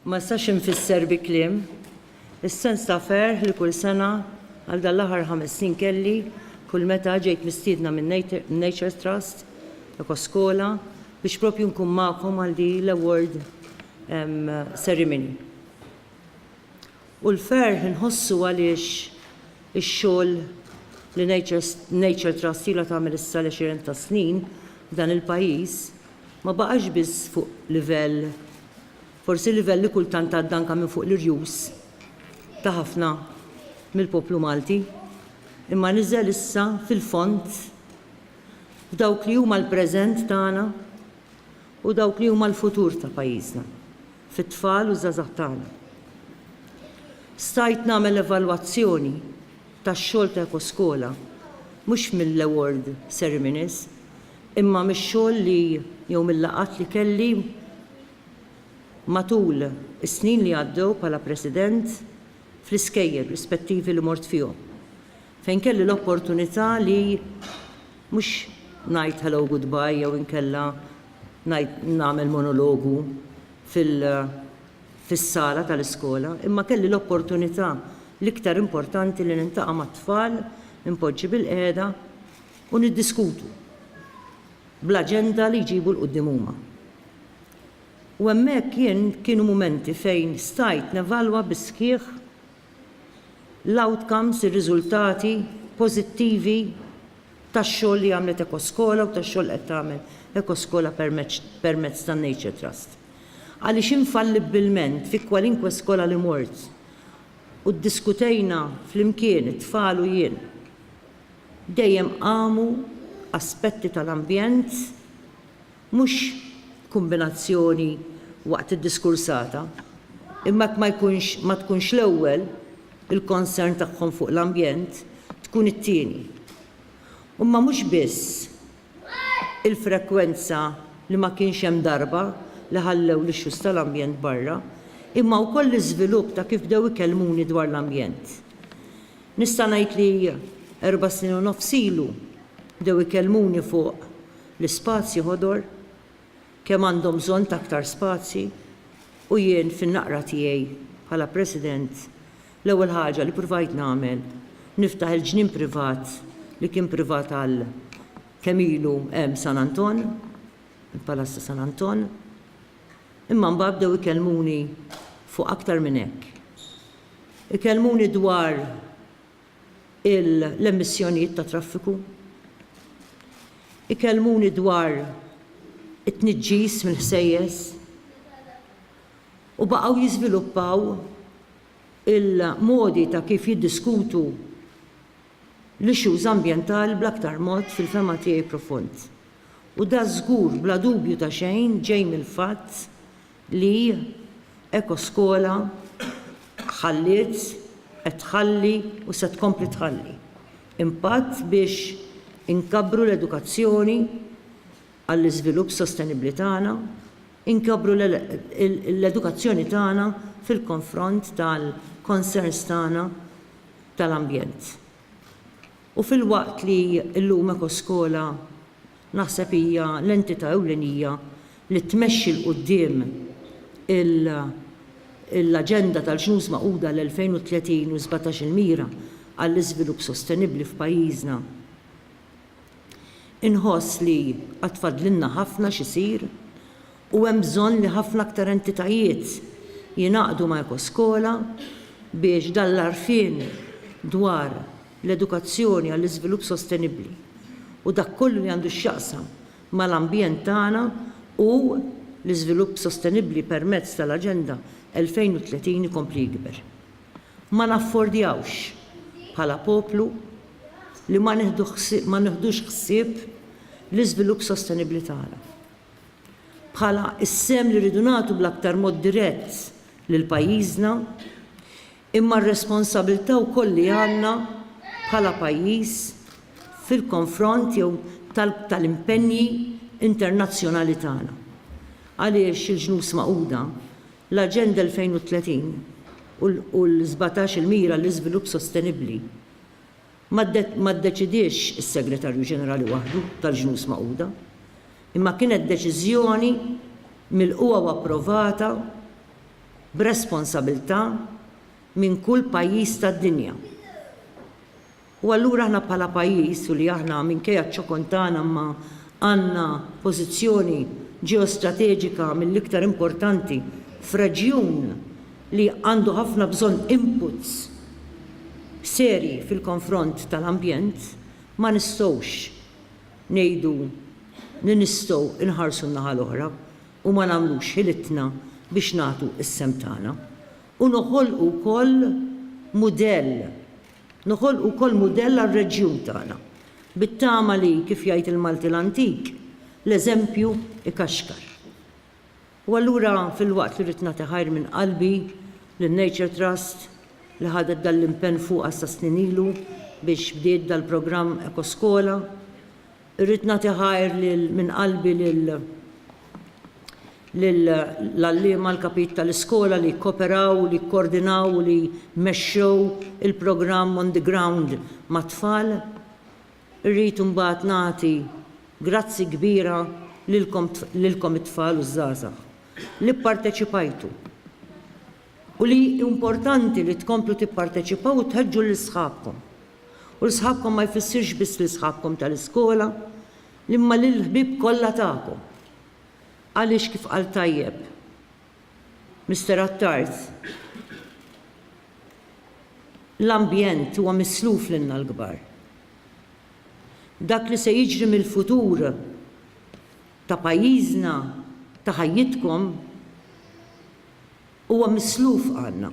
Ma nistax infisser bi kliem is-sens ta' ferħ li kull sena għal dan l-aħħar ħames snin kelli kull meta ġejt mistiedna minn Nature Trust, Ekoskola, biex propju nkun magħkom għal din l-award ceremony. U l-ferħ inħossu għaliex ix-xogħol li Nature Trust ilha tagħmel issa l-għexieren ta' snin f'dan il-pajjiż ma baqax biss fuq livell, forsi livell li kultant għadda anke minn fuq l-irjus ta' ħafna mill-poplu Malti, imma niżel issa fil-fond f'dawk li huma l-preżent tagħna. u dawk li huma l-futur ta' pajjiżna, fit-tfal u ż-żgħażagħ tagħna. Stajt nagħmel evalwazzjoni tax-xogħol ta' Ekoskola mhux mill-award ceremonies imma mix-xogħol li jew mil-laqgħat li kelli matul is-snin li għaddew bħala President fl-iskejjel rispettivi li mort fihom fejn kelli l-opportunità li Mhux ngħid hello goodbye jew inkella ngħid nagħmel monologu fil fis-sala tal-iskola imma kelli l-opportunità l-iktar importanti li niltaqa' mat-tfal, inpoġġi bilqiegħda u niddiskutu bl-aġenda li jġibu 'l quddiem huma. U hemmhekk jien kienu mumenti fejn stajt nevalwa bis-sħiħ l-outcomes, ir-riżultati pożittivi tax-xogħol li għamlet Ekoskola u tax-xogħol li qed tagħmel Ekoskola permezz tan-Nature Trust. Għaliex infallibbilment fi kwalinkwe skola li mort u ddiskutejna flimkien it-tfal u jien, dejjem qamu aspetti tal-ambjent, Mhux kombinazzjoni waqt id-diskursata, imma jekk ma jkunx, ma tkunx l-ewwel, il-concern tagħhom fuq l-ambjent, tkun it-tieni. Huma mhux biss il-frekwenza li ma kienx hemm darba li ħallew l-issues tal-ambjent barra, imma wkoll l-iżvilupp ta' kif bdew ikellmuni dwar l-ambjent. Nista' ngħid li erba' snin u nofs ilu bdew ikellmuni fuq L-ispazji ħodor, kemm għandhom bżonn ta' aktar spazji, u jien fin-naqra tiegħi bħala President l-ewwel ħaġa li pruvajt nagħmel niftaħ il-ġnien privat li kien privat għal kemm ilu hemm San Anton, il-Palazz ta' San Anton, imma mbagħad bdew ikellmuni fuq aktar minn hekk. Ikellmuni dwar. l-emissjonijiet tat-traffiku, ikellmuni dwar it-tniġġis mill-ħsejjes u baqgħu jiżviluppaw il-modi ta' kif jiddiskutu l-issues ambjentali bl-aktar mod fil-fehma tiegħi profond. U dan żgur bla dubju ta' xejn ġej mill-fatt li Ekoskola ħalliet, qed tħalli u se tkompli tħalli impatt biex inkabbru l-edukazzjoni għall-iżvilupp sostenibbli tagħna, inkabbru l-edukazzjoni tagħna fil-konfront tal-concerns tagħna tal-ambjent. U filwaqt li llum Ekoskola, Naħseb hija l-entità ewlenija li tmexxi 'l quddiem l-Aġenda tal-Ġnus Magħquda l-2030 u sbatax il-Mira għall-Iżvilupp Sostenibbli f'pajjiżna. Inħoss li għad fadlilna ħafna x'isir u hemm bżonn li ħafna aktar entitajiet jingħaqdu ma' Ekoskola biex dan l-għarfien dwar l-edukazzjoni għall-iżvilupp sostenibbli u dak kollu li għandu x'jaqsam mal-ambjent tagħna u l-iżvilupp sostenibbli permezz tal-Aġenda 2030 ikompli jikber. Ma naffordjawx, bħala poplu, li ma nieħdux ħsieb l-iżvilupp sostenibbli tagħna, bħala s-sehem li rridu nagħtu bl-aktar mod dirett lil pajjiżna, imma r-responsabilità wkoll li għandna bħala pajjiż fil-konfront jew tal-impenji internazzjonali tagħna. Għaliex il-Ġnus Magħquda, l-Aġenda 2030 u l-17 il-Mira għall-Iżvilupp Sostenibbli ma ddeċidiex is-Segretarju Ġenerali waħdu tal-Ġnus Magħquda, imma kienet deċiżjoni milqugħa u approvata b'responsabilità minn kull pajjiż tad-dinja. U allura aħna bħala pajjiż u li aħna minkejja ċ-ċokon tagħna imma għandna pożizzjoni ġeostrateġika mill-iktar importanti f'reġjun li għandu ħafna bżonn inputs serji fil-konfront tal-ambjent ma nistgħux ngħidu li nistgħu nħarsu n-naħa l-oħra. u ma nagħmlux ħilitna biex nagħtu s-sehem tagħna, u noħolqu wkoll mudell, noħolqu wkoll mudell għar-reġjun tagħna, bit-tama li, kif jgħid il-Malti l-antik, l-eżempju jkaxkar. U allura, filwaqt li rrid nagħti ħajr minn qalbi lin-Nature Trust, li ħadet dan l-impenn fuqha sa snin ilu biex bdiet dal-programm Ekoskola, Irrid nagħti ħajr lil minn qalbi lil lil l-għalliema, l-kapit ta' l-iskola li kkoperaw u li kkordinaw u li mexxew il-programm on the ground mat-tfal. Irrid imbagħad nagħti grazzi kbira lilkom lilkom it-tfal u ż-żgħażagħ li pparteċipajtu u li hi importanti li tkomplu tipparteċipaw u tħeġġu lil sħabkom. U l sħabkom ma jfissirx biss lil sħabkom tal-iskola, imma lill-ħbieb kollha tagħkom. Għaliex kif qal tajjeb Mister Attard, l-ambjent huwa misluf lilna l-kbar. Dak li se jiġri mill-futur ta' pajjiżna, ta' ħajjitkom, huwa misluf għandna.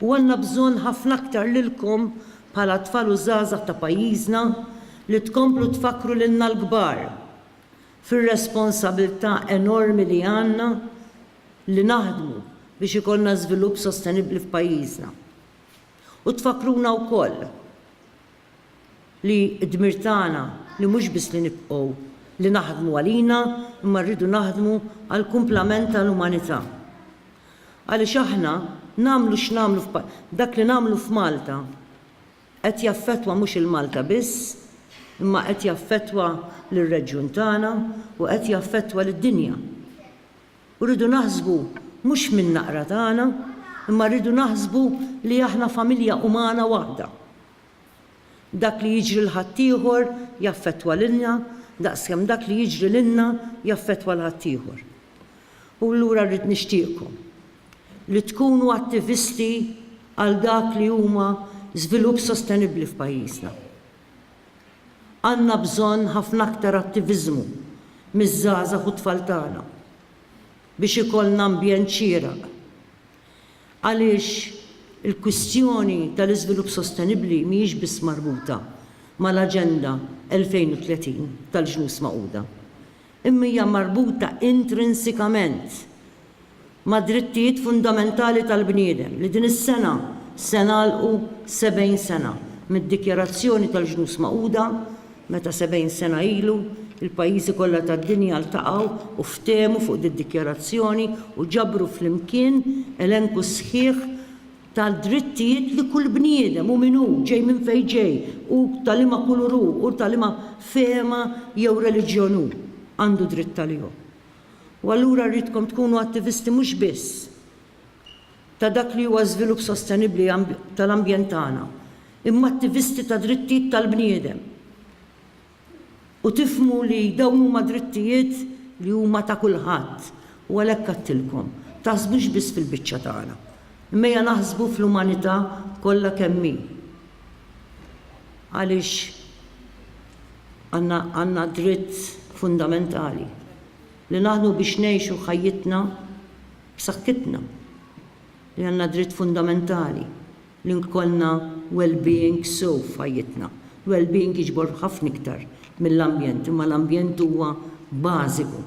U għandna bżonn ħafna aktar lilkom bħala tfal u żgħażagħ ta' pajjiżna li tkomplu tfakkru lilna l-kbar fir-responsabilità enormi li għandna li naħdmu biex ikollna żvilupp sostenibbli f'pajjiżna. U tfakkruna wkoll. li d-dmir tagħna li mhux biss li nibqgħu li naħdmu għalina imma rridu naħdmu għall-kumplament tal-umanità. Għaliex aħna nagħmlu x'nagħmlu dak li nagħmlu f'Malta qed jaffettwa mhux il-Malta biss imma qed jaffettwa lir-reġjun tagħna u qed jaffettwa lid-dinja. U rridu naħsbu mhux min-naqra tagħna, imma rridu naħsbu li aħna familja umana waħda. Dak li jiġri l ħaddieħor jaffettwa lilna daqskemm dak li jiġri lilna jaffettwa l ħaddieħor. U allura rrid nixtieqkom li tkunu attivisti għal dak li huma żvilupp sostenibbli f'pajjiżna. Għandna bżonn ħafna aktar attiviżmu miż-żgħażagħ u t-tfal tagħna biex ikollna ambjent xieraq għaliex il-kwistjoni tal-iżvilupp sostenibbli mhijiex biss marbuta mal-Aġenda 2030 tal-Ġnus Magħquda. imma hija marbuta intrinsikament mad-drittijiet fundamentali tal-bniedem li din is-sena se nagħlqu 70 sena mid-Dikjarazzjoni tal-Ġnus Magħquda meta 70 sena ilu l-pajjiżi kollha tad-dinja ltaqgħu u ftehmu fuq did-dikjarazzjoni u ġabru flimkien elenku sħiħ tad-drittijiet li kull bniedem hu min hu, ġej minn fejn ġej u ta' liema kulur hu u ta' liema fehma jew reliġjon hu, għandu dritt għalihom. U allura rridkom tkunu attivisti mhux biss ta' dak li huwa żvilupp sostenibbli tal-ambjent tagħna, imma attivisti tad-drittijiet tal-bniedem. u tifhmu li dawn huma drittijiet li huma ta' kulħadd u għalhekk għedtilkom, taħsbux biss fil-biċċa tagħna, imma ejja naħsbu fl-umanità kollha kemm hi għaliex għandna dritt fundamentali li naħdmu biex ngħixu ħajjitna b'saħħitna, li għandna dritt fundamentali li nkollna well-being sew f'ħajjitna. Il-well-being jiġbor ħafna iktar mill-ambjent, imma l-ambjent huwa bażiku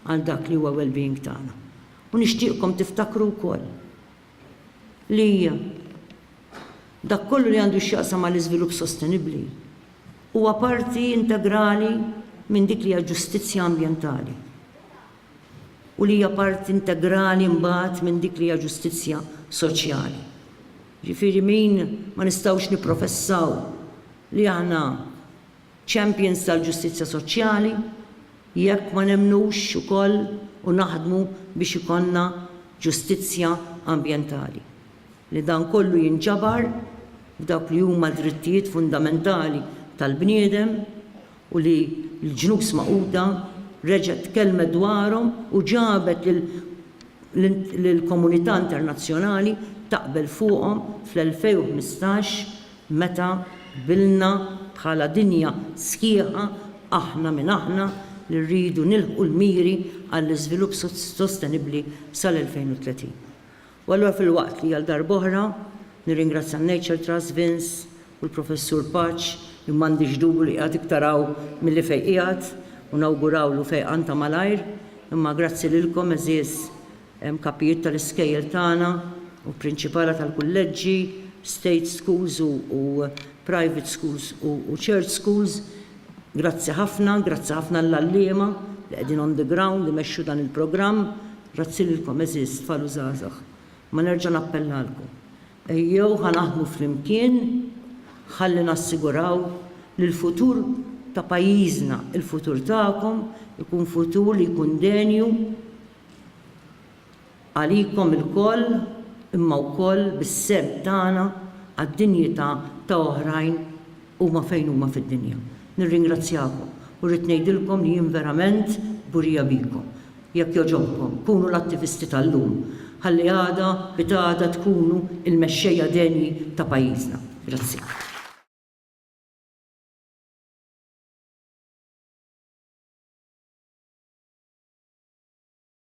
għal dak li huwa well-being tagħna. U nixtieqkom tiftakru wkoll li dak kollu li għandu x'jaqsam mal-iżvilupp sostenibbli huwa parti integrali minn dik li hija ġustizzja ambjentali. u li hija parti integrali mbagħad minn dik li hija ġustizzja soċjali. Jiġifieri min ma nistgħux nipprofessaw li aħna champions tal-ġustizzja soċjali jekk ma nemmnux ukoll u naħdmu biex ikollna ġustizzja ambjentali, li dan kollu jinġabar f'dawk li huma d-drittijiet fundamentali tal-bniedem u li l-Ġnus Magħquda reġgħet tkellmet dwarhom u ġabet lill-komunità internazzjonali taqbel fuqhom fl-2015 meta qbilna bħala dinja sħiħa aħna min aħna li rridu nilħqu l-miri għall-iżvilupp sostenibbli sal-2030. U allura filwaqt li għal darb'oħra nirringrazzja n-Nature Trust, Vince, u l-Professur Paċ, li m'għandix dubju li qiegħed iktar hawn milli fejn qiegħed, u nawgurawlu fejqan ta' malajr, imma grazzi lilkom għeżież kapijiet tal-iskejjel tagħna u prinċipala tal-kulleġġi, state schools u private schools u church schools, grazzi ħafna, grazzi ħafna lill-għalliema li qegħdin on the ground imexxu dan il-programm, Grazzi lilkom għeżież tfal u żgħażagħ. Ma nerġa' nappellalkom, ejjew ħa naħdmu flimkien ħalli nassiguraw li l-futur ta' pajjiżna, il-futur tagħkom ikun futur li jkun denju għalikom ilkoll imma wkoll bis-sehem tagħna għad-dinjità ta' oħrajn huma fejn huma fid-dinja. Nirringrazzjakom u rrid ngħidilkom li jien verament kburija bikom. Jekk jogħġobkom, kunu l-attivisti tal-lum, ħalli għada pitgħada tkunu l-mexxejja denji ta' pajjiżna. Grazzi.